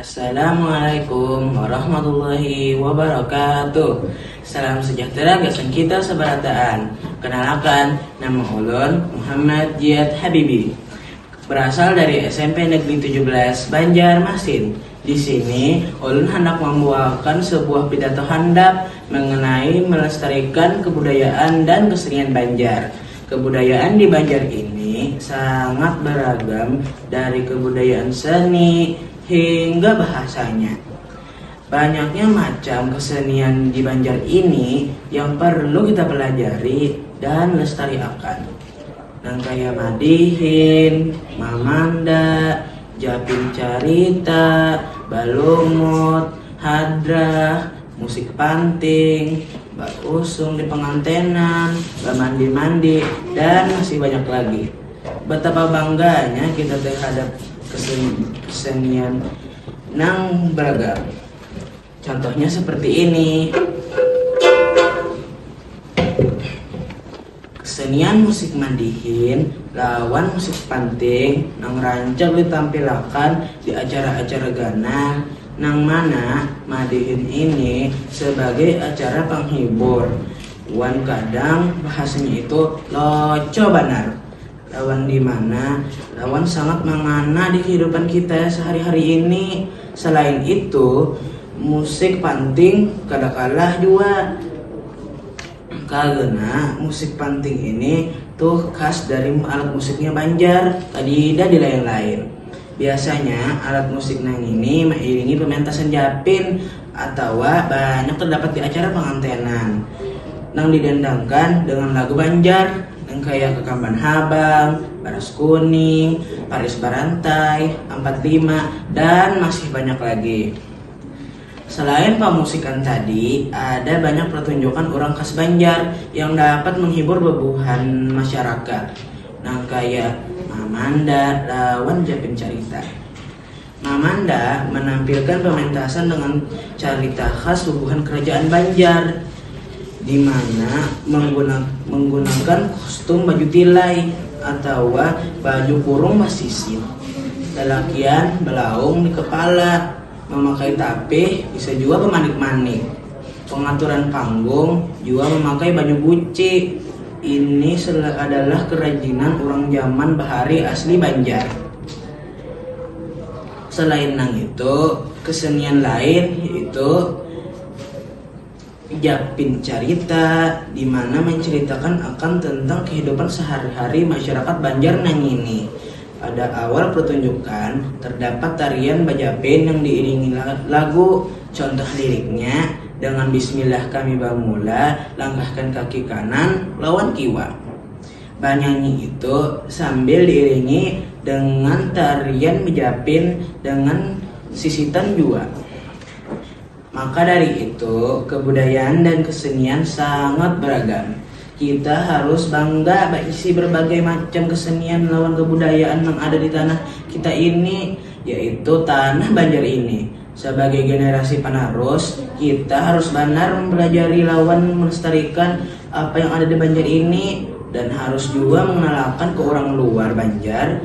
Assalamualaikum warahmatullahi wabarakatuh. Salam sejahtera gasan kita sabarataan. Kenalakan, nama ulun Muhammad Jiat Habibi. Berasal dari SMP Negeri 17 Banjarmasin. Di sini, ulun handak mambuahakan sebuah pidato handap mengenai melestarikan kebudayaan dan kesenian Banjar. Kebudayaan di Banjar ini sangat beragam dari kebudayaan seni hingga bahasanya. Banyaknya macam kesenian di Banjar ini yang perlu kita pelajari dan lestari akan. Nang kaya madihin, mamanda, japing carita, balumut, hadrah. Musik panting, bakusung di pengantenan, bamandi-mandi, dan masih banyak lagi. Betapa bangganya kita terhadap kesenian nang beragam. Contohnya seperti ini. Kesenian musik mandihin lawan musik panting nang rancak ditampilakan di acara-acara ganal, nang mana madihin ini sabagai acara panghibur wan kadang bahasanya itu loco banar lawan dimana lawan sangat mangana di kahidupan kita sahari-hari ini. Salain itu, musik panting kada kalah jua. Karena musik panting ini tuh khas dari alat musiknya Banjar, kadida dilain-lain. Biasanya alat musik nang ini mairingi pementasan japin atawa banyak terdapat di acara pangantenan nang didandangkan dengan lagu Banjar nang kaya Kakamban Habang, Baras Kuning, Paris Barantai, Ampat Lima, dan masih banyak lagi. Selain pamusikan tadi, ada banyak pertunjukan urang khas Banjar yang dapat menghibur bebuhan masyarakat nang kaya Mamanda lawan Japin Carita. Mamanda menampilkan pementasan dengan carita khas bubuhan kerajaan Banjar di mana menggunakan kostum baju tilai atawa baju kurung basisir, lalakian belaung di kepala. Mamakai tapih bisa jua bamanik-manik. Pangaturan panggung jua mamakai baju buci. Ini adalah kerajinan urang jaman bahari asli Banjar. Selain nang itu, kesenian lain yaitu. Japin Carita di mana mancaritakan akan tentang kehidupan sehari-hari masyarakat Banjar nangini. Pada awal pertunjukan, terdapat tarian bajapin yang diiringi lagu, contoh liriknya, Dengan Bismillah kami bamula, langkahkan kaki kanan lawan kiwa. Banyanyi itu sambil diiringi dengan tarian japin dengan sisitan jua. Maka dari itu, kebudayaan dan kesenian sangat beragam. Kita harus bangga baisi berbagai macam kesenian lawan kebudayaan nang ada di tanah kita ini, yaitu tanah Banjar ini. Sabagai generasi panarus, kita harus banar mempelajari lawan melestarikan apa yang ada di Banjar ini dan harus jua mengenalakan ke urang luar Banjar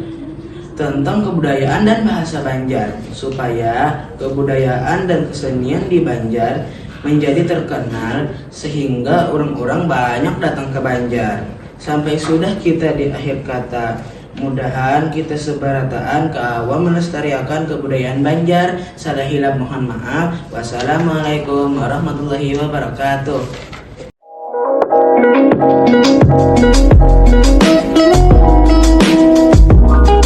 tentang kebudayaan dan bahasa Banjar supaya Kebudayaan dan kesenian di Banjar menjadi terkenal sehingga urang-urang banyak datang ke Banjar. Sampai sudah kita di akhir kata, mudahan kita sebarataan kawa melestariakan kebudayaan Banjar. Salah hilang mohon maaf. Wassalamualaikum warahmatullahi wabarakatuh.